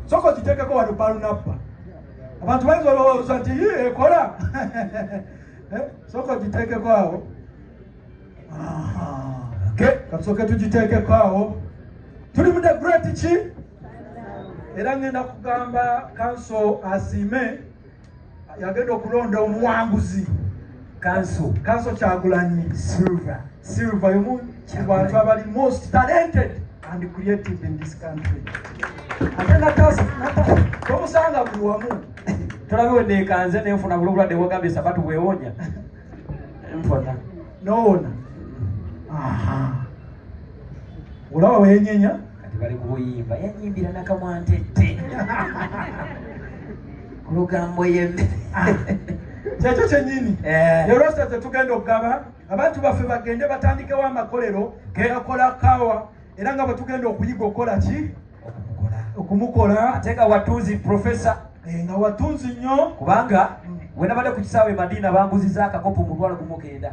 soko kitekeko wano balunabba abantu bayinza olowooza nti yi ekola eh, soko kitekeko awo katusoke tugitekeko awo tuli mu the great ki era ngenda kugamba kanso asiime yagenda okulonda omuwanguzi kanso kanso kyagulanyi silver silver yomu kubantu abali most talented and creative in this country ate natasa tomusanga buli wamu tolabe wenekanze nenfuna buli obulwadde bwogambye sabatu bwewonya nfuna nowona olaba wenyenya kati bali kubuyimba yanyimbira nakamwantette kulugambo yeme ah. kyekyo kyenyini eh. erwasa tetugenda okugaba abantu baffe bagende batandikewo amakolero geyakola kawa era nga bwetugenda okuyiga okukola ki okumukola ate nga watunzi profesa eh, nga watunzi nnyo kubanga mm. wenabadde ku kisaawe madiina banguziza akakopo omutwalo gumugenda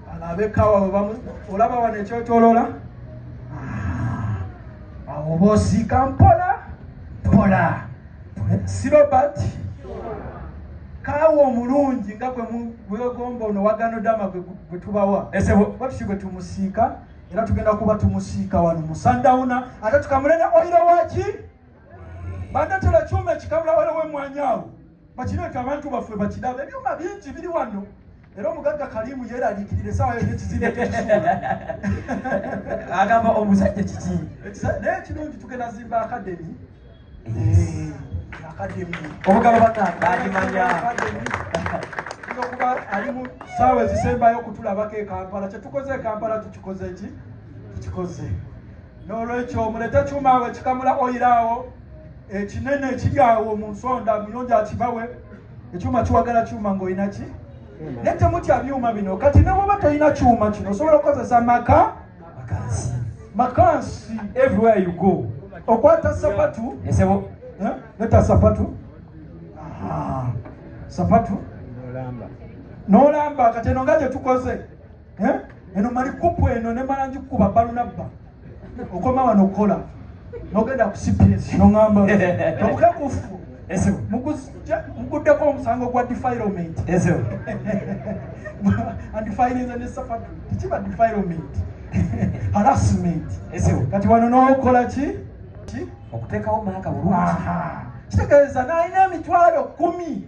bano abekaawa webamu olaba wano ekyotolola ah, awo bosiika mpola mpola si robert kaawa omulungi nga gwegomba ono waganodama gwetubawa ese batusi gwe tumusiika era tugenda kuba tumusiika wano musandawuna ate tukamule ne oyiro waki bandatera kyuma ekikamula waliwo emwanyi awo bakireeta abantu baffe bakirabe ebyuma bingi biri wano era omugagga kalimu yeraliikirira esaawa yona ekizimbe tekisuula agamba omusajja kiki naye ekirungi tugenda zimba akademi akademi omugalo banaagimanya okuba ali mu saawa ezisembayo okutulabako ekampala kyetukoze ekampala tukikoze ki tukikoze n'olwekyo mulete kyuma awo ekikamula oyiraawo ekinene ekiri awo mu nsonda muyonja akibawe ekyuma kiwagala kyuma ng'olina ki naye temutya byuma bino kati ne bwoba tolina kyuma kino osobola okukozesa maka makansi makansi everywhere you go okwata sapatu esebo eh? neta sapatu sapatu n'olamba kati eno nga gye tukoze eh? eno mali kupu eno ne mala ngikukuba balunabba okoma wano okukola nogenda ku cps nongamba nokukekufu muguddeko omusango gwa defilement andifirinza ne safa tekiba defilement harassment kati wano nokola ki okutekawo maaka bulungi kitegeeza nalina emitwalo kumi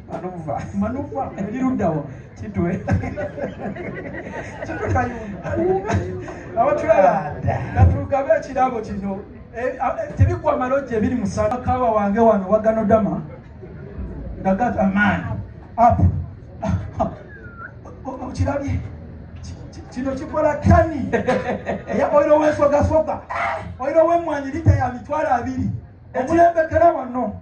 Manuva. Manuva eri luddawa? Kitwe. Kitwe kayumba. Abatulaba natugabe ekirabo kino eh, ah, eh, tebigwa malojja ebiri musala kawa wange wano waganodama ndagat amaani up okirabye kino kikola tani eya oiro wensogasoga oiro wemwanyi lita ya mitwalo abiri omulembekera wano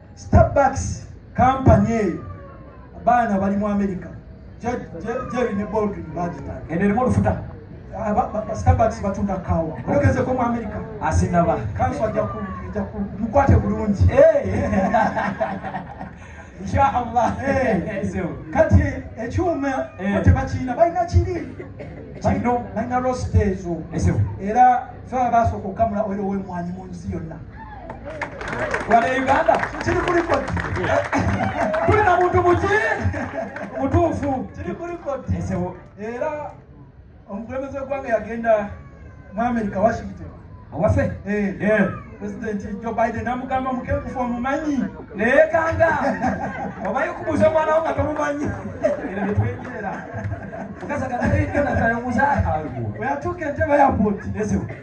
Starbucks kampani eyo baana bali mu Amerika Jerry ne Baldwin bagitanga eno erimu olufuta ah, Starbucks batunda kawa oyogezeko mu Amerika asinaba kanso ajja mukwate bulungi inshallah kati ekyuma tebakirina balina kiri kino balina rositeezo era fe basooka okukamula oyo owemwanyi mu nsi yonna wano e uganda kiri ku likodi tuli na muntu muki mutuufu kiri ku likodi era omukulembeze wegwanga yagenda mu america washington awase eh. eh. presidenti jo biden amugamba mukenkufu omumanyi naye kanga obaye okubuuza omwana wo nga tomumanyi era netwengerera kasaganaeyonasayomusa weyatuuka entebe yapoti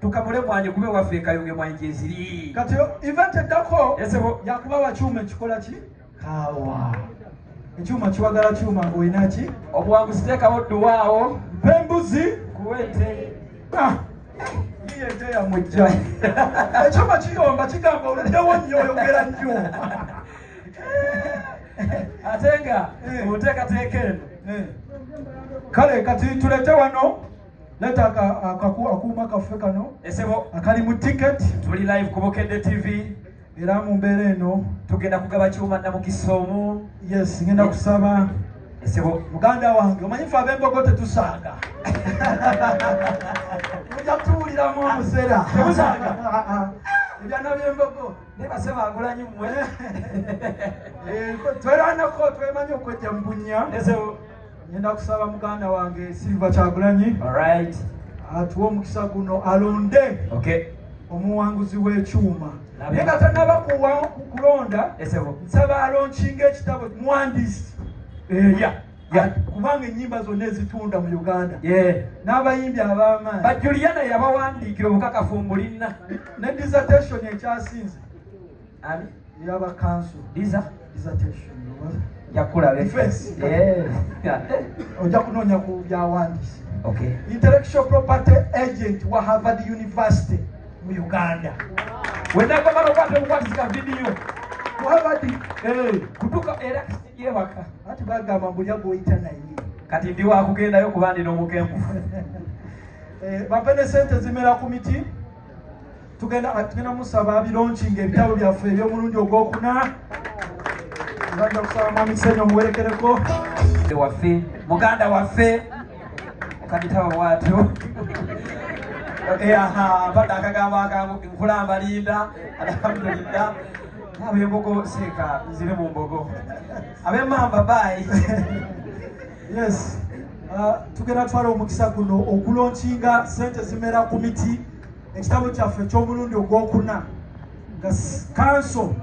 tukamule mwanyi kube waffe ekayunge mwanyi gyeziri kati event eddako esebo yakuba wakyuma ekikola ki kawa ekyuma kiwagala kyuma ng'olina ki obuwanguzi teekawo dduwaawo mpa embuzi kuwete ah, iye ente yamujja ekyuma kiyomba kigamba oluddewo nnyo oyogera nnyo ate nga eh. mu nteekateeka eno eh. kale kati tulete wano leta akuuma kaffe kano esebo akali mu ticket tuli live ku bukedde tv era mu mbeera eno tugenda kugaba kyuma namukisa omu yes ngenda kusaba esebo muganda wange omanyi fe abembogo tetusanga muja tuwuliramu omusera temusanga ah, ah. ebyana byembogo naye basema agulanyi mwe eh, tweranako twemanyi okwejja mu bunya esebo Ngenda kusaba muganda wange Silver Kyagulanyi. All right. Atuwe omukisa guno alonde. Okay. Omuwanguzi w'ekyuma. Naye nga tanaba kulonda nsaba alonkinga ekitabo muwandiisi eya eh, kubanga ennyimba zonna ezitunda mu uganda n'abayimbi ab'amaanyi bajuliana yabawandiikira obukakafu mbulina ne dissertation ekyasinze Ani? Yaba council. Diza? Dissertation. Yakula defense. Yeah. Oja kunonya ku bya wandisi. Okay. Intellectual property agent wa Harvard University mu Uganda. Wenda kwa mara kwa kwa kwa video. Ku Harvard eh kutuka era ye baka. Ati baga mambo ya go itana yini. Kati ndiwa akugenda yo kubandi no mukembu. Eh bapende sente zimera ku miti. tugenda kati tugenda musaba abironki nga ebitabo byaffe eby'omulundi ogwokuna tugenda kusaba mwami kisenyo omuwerekereko waffe muganda waffe okabitaba bwatyo eyaha badde akagambo akangu nkulamba linda alhamdulillah abembogo seeka nzire mu mbogo abemamba bayi yes uh, tugenda twala omukisa guno okulonkinga sente zimera ku miti ekitabo kyaffe eky'omulundi ogwokuna nga kanso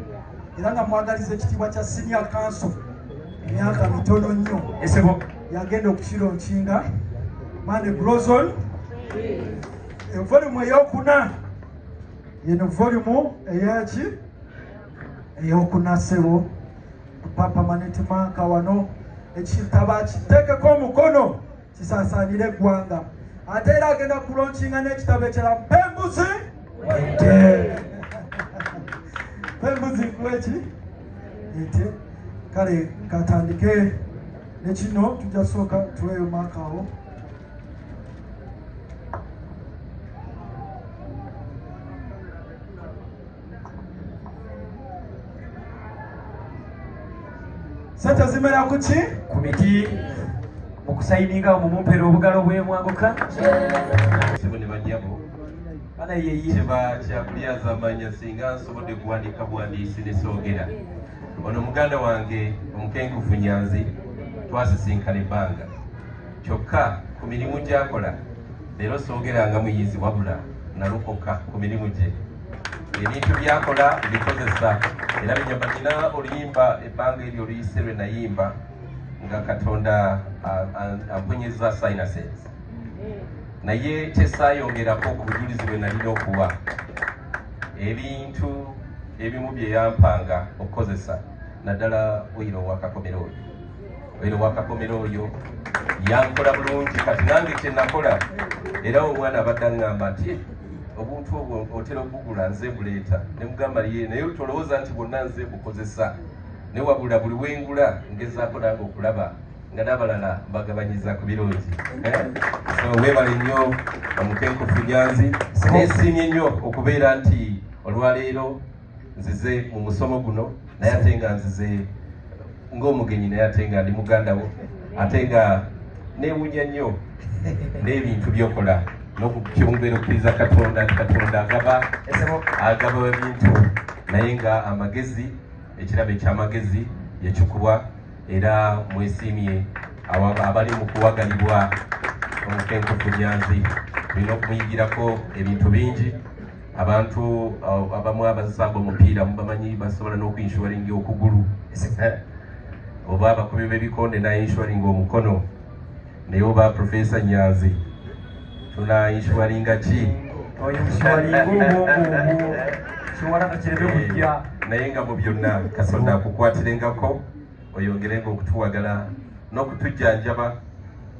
era nga mwagaliza ekitiibwa kya siniya kanso emyaka mitono nnyo esebo yagenda okukira onkinga mande grozon evolumu eyokuna yeno volumu eyaki eyokuna sebo papa manetimanka wano ekitaba kitekeko omukono kisaasaanire eggwanga ate era agenda kulonkinga n'ekitabo ekirala pembuzi ente pembuzi nkuweki ente kale katandike nekino tujja sooka tuleyo maaka awo sente zimera kuki ku miti mukusaininga omumumpera obugalo bwemwanguka kyebakyabulyazaamanya singa nsobodde kuwandiika buwandiisi nesoogera ono muganda wange omukenkufu nyanzi twasisinkana ebbanga kyokka ku mirimu gyakola leero soogera nga muyizi wabula nalokoka ku mirimu gye ebintu byakola bikozesa era binyamba nina oluyimba ebbanga eryo oluyise lwe nayimba nga katonda ampunyeza sinuses naye kyesayongerako ku bujulizi bwe nalina okuwa ebintu ebimu byeyampanga okukozesa naddala oyiro wakakomera oyo obeere wakakomera oyo yankola bulungi kati nange kyenakola era omwana abadde aŋŋamba nti eh, obuntu obwo otera okugula nze buleeta ne mugamba ye naye tolowooza nti bwonna nze bukozesa ne wabula buli wengula ngezaako nange okulaba nga n'abalala mbagabanyiza ku birungi eh? so webale nnyo omukenkufu nyanzi sinesiimye nnyo okubeera nti olwaleero nzize mu musomo guno naye ate nga nzize ng'omugenyi naye ate nga ndi muganda wo ate nga newunya nnyo n'ebintu byokola nokukyongera okukkiriza katonda nti katonda agaba agaba ebintu naye nga amagezi ekirabo ekyamagezi yakikuwa era mwesiimye abali mu kuwagalibwa omukenkufu nyanzi olina okumuyigirako ebintu bingi abantu uh, abamu abazisanga omupiira mubamanyi basobola n'okuinshuringa okugulu eh? oba abakubi b'ebikonde nainshuringa omukono naye oba profesa nyanzi tunainshuringa ki naye nga mu byonna katonda akukwatiringako oyongerenga okutuwagala n'okutujjanjaba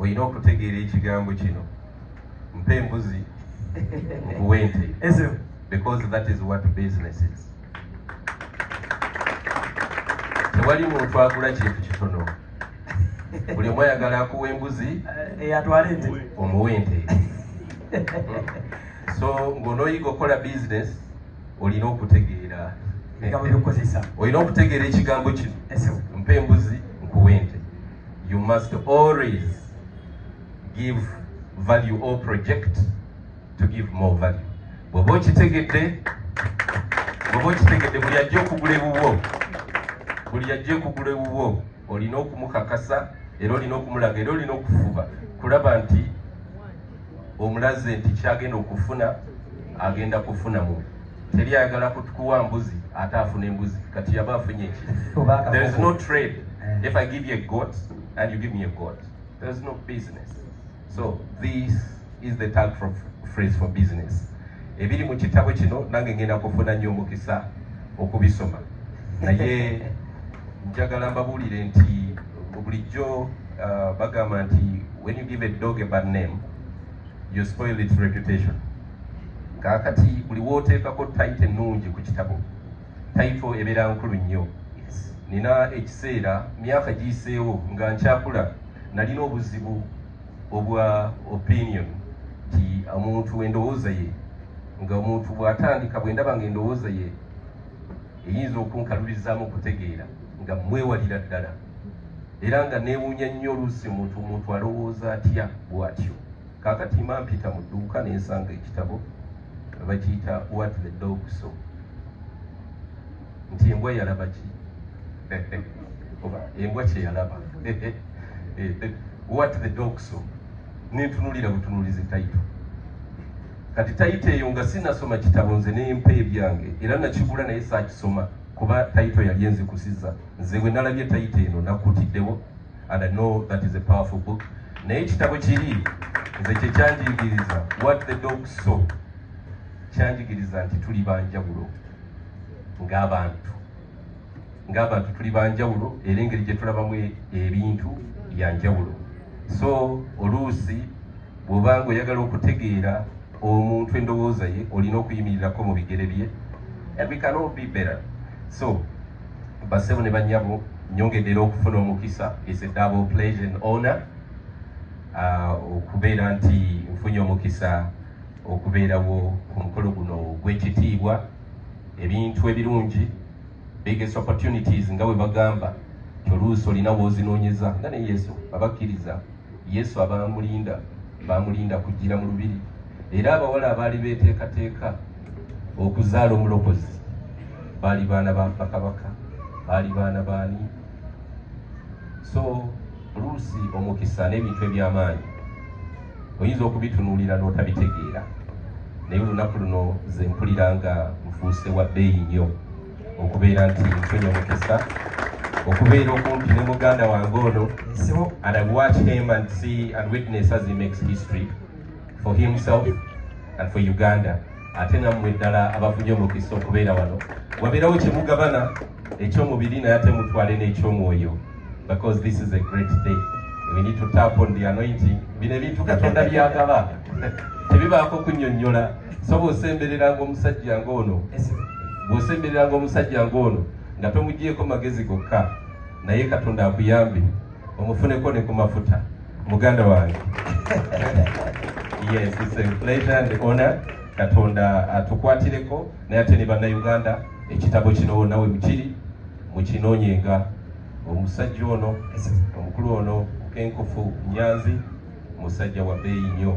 olina okutegeera ekigambo kino mpa embuzi nkuwe ente because that is what business is tewali muntu agula kintu kitono buli omu ayagala akuwa embuzi eyatwala eh, ente omuwa ente so ng'onooyiga okukola business olina okutegeera olina okutegeera ekigambo kino mpa embuzi nkuwa ente you must always give value or project to give more value bwoba okitegedde bwoba okitegedde buli ajja okugula ewuwo buli ajja okugula ewuwo olina okumukakasa era olina okumulaga era olina okufuba kulaba nti omulaze nti kyagenda okufuna agenda kufuna mu teri ayagala kutukuwa mbuzi ate afuna embuzi kati yaba afunye ki there is no trade eh. if i give you a goat and you give me a goat there is no business so this is the tag for phrase for business ebiri mu kitabo kino nange ngenda kufuna nnyo omukisa okubisoma naye njagala mbabuulire nti bulijjo uh, bagamba nti when you give a dog a bad name you spoil its reputation kakati buli woteekako tayite ennungi ku kitabo tayito ebeera nkulu nnyo nina ekiseera myaka giyiseewo nga nkyakula nalina obuzibu obwa opinion nti omuntu endowooza ye nga omuntu bw'atandika bwe ndaba nga endowooza ye eyinza okunkalubirizaamu okutegeera nga mwewalira ddala era nga neewuunya nnyo oluusi muntu muntu alowooza atya bw'atyo kaakati ma mpita mu dduuka ne nsanga ekitabo bakiyita wat the dog so nti embwa yalaba ki oba embwa kyeyalaba eh, eh, wat the dog so nentunuulira butunuulizi taito kati tayito eyo nga sinasoma kitabo nze nempa ebyange era nakigula naye sakisoma kuba tayito yali enzikusiza nze bwe nalabye tayito eno nakutiddewo and i know that is a powerful book naye ekitabo kiri nze kyekyanjigiriza what the dog so kyanjigiriza nti tuli banjawulo ng'abantu ng'abantu tuli banjawulo era engeri gye tulabamu e, ebintu bya njawulo so oluusi bw'oba nga oyagala okutegeera omuntu endowooza ye olina okuyimirirako mu bigere bye ebikanobibera so basebo ne banyabo nyongedera okufuna omukisa is a double pleasure and honor uh, okubeera nti nfunye omukisa okubeerawo ku mukolo guno gw'ekitiibwa ebintu ebirungi biggest opportunities nga bwe bagamba toluusi olina woozinoonyeza nga ne yesu abakkiriza yesu abamulinda bamulinda kujjira mu lubiri era abawala abaali beeteekateeka okuzaala omulokozi baali baana ba bakabaka baali baana baani so oluusi omukisa n'ebintu eby'amaanyi oyinza okubitunuulira n'otabitegeera naye olunaku luno ze mpulira nga nfuuse wa bbeeyi nnyo okubeera nti nfunye omukisa okubeera okumpi ne muganda wange ono and i watch him and see and witness as he makes history for himself and for uganda ate nammwe ddala abafunye omukisa okubeera wano wabeerawo kyemugabana ekyomubiri naye ate mutwale n'ekyomwoyo because this is a great day we need to tap on the anointing bino ebintu katonda byagaba tebibaako kunyonyola so bwosembereranga omusajja ng'ono bwosembereranga omusajja ng'ono nga tomugyeko magezi gokka naye katonda akuyambe omufuneko ne ku mafuta muganda wange yes it's a pleasure and honor katonda atukwatireko naye ate ne bannayuganda ekitabo kino nawe mukiri mukinoonyenga omusajja ono omukulu ono kenkufu nyanzi musajja wa beeyi nnyo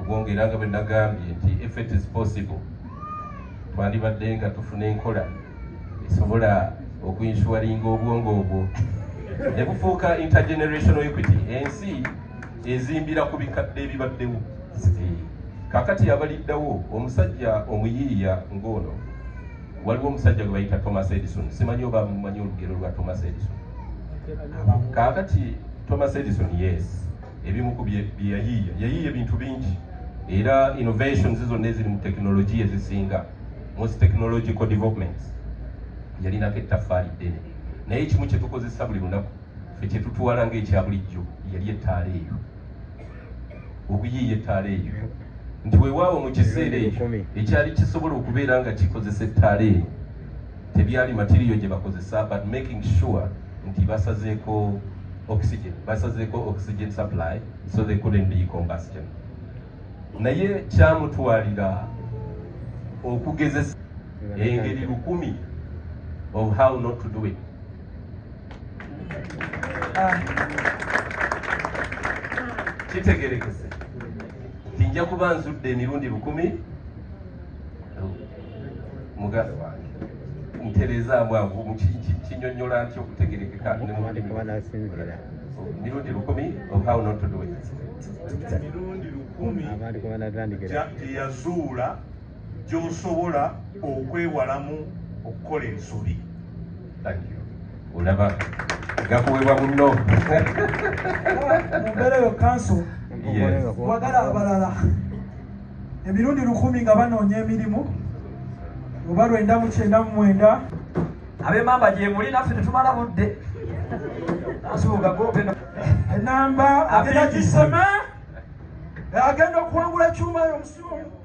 obwongera nga bwe nagambye nti if it is possible twandibadde nga tufuna enkola esobola okuinsuwaringa obwongo obwo ne bufuuka intergenerational equity ensi ezimbira ku bikadde ebibaddewo kakati abaliddawo omusajja omuyiiya ng'ono waliwo omusajja gwe bayita thomas edison simanyi oba mumanyi olugero lwa thomas edison kakati thomas edison yes ebimu ku byeyayiiya yayiiya ebintu bingi era innovations zonna eziri mu tekinologiya ezisinga most technological developments yalinako ettaffaali ddene naye ekimu kyetukozesa buli lunaku fe kyetutwala nga ekya bulijjo yali ettaala eyo okuyiiya ettaala eyo nti wewaawo mu kiseera ekyo ekyali kisobola okubeera nga kikozesa ettaala eyo tebyali matiriyo gye bakozesa but making sure nti basazeeko oxygen basazeeko oxygen supply so they couldn't be combustion naye kyamutwalira okugezesa engeri lukumi of how not to do it ah. kitegerekese tinja kuba nzudde emirundi bukumi mugabe wange ntereezaamu ago kinyonyola nti okutegerekeka mirundi lukumi of how not to do it mirundi lukumi abantu kwebanatandikira teyazuula gy'osobola okwewalamu okukola ensobi olaba gakuwebwa bunno mumbeera yo kanso wagala abalala emirundi lukumi nga banoonya emirimu oba lwenda mu kyenda mu mwenda abemamba gyemuli naffe tetumala budde enamba agenda kisema agenda okuwangula ekyuma yo omusimu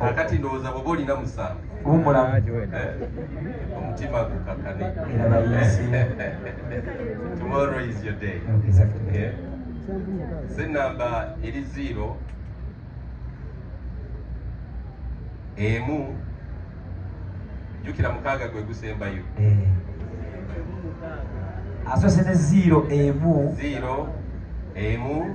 akati ndowooza bwoba olina musanvu wumulamu eh, omutima gukakane tomorrow is your day eh, senamba eri zero emu jukira mukaaga gwe gusembayo eh. asose ne zero emu zero emu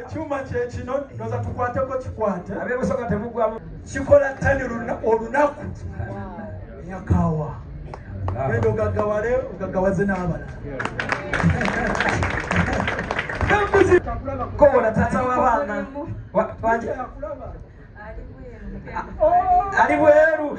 ekyuma kyekino noza tukwateko kikwate abebusoga temugwamu kikola tani olunaku yakawa genda ogagawale ogagawaze n'abala kobola tata wabaana ali bweru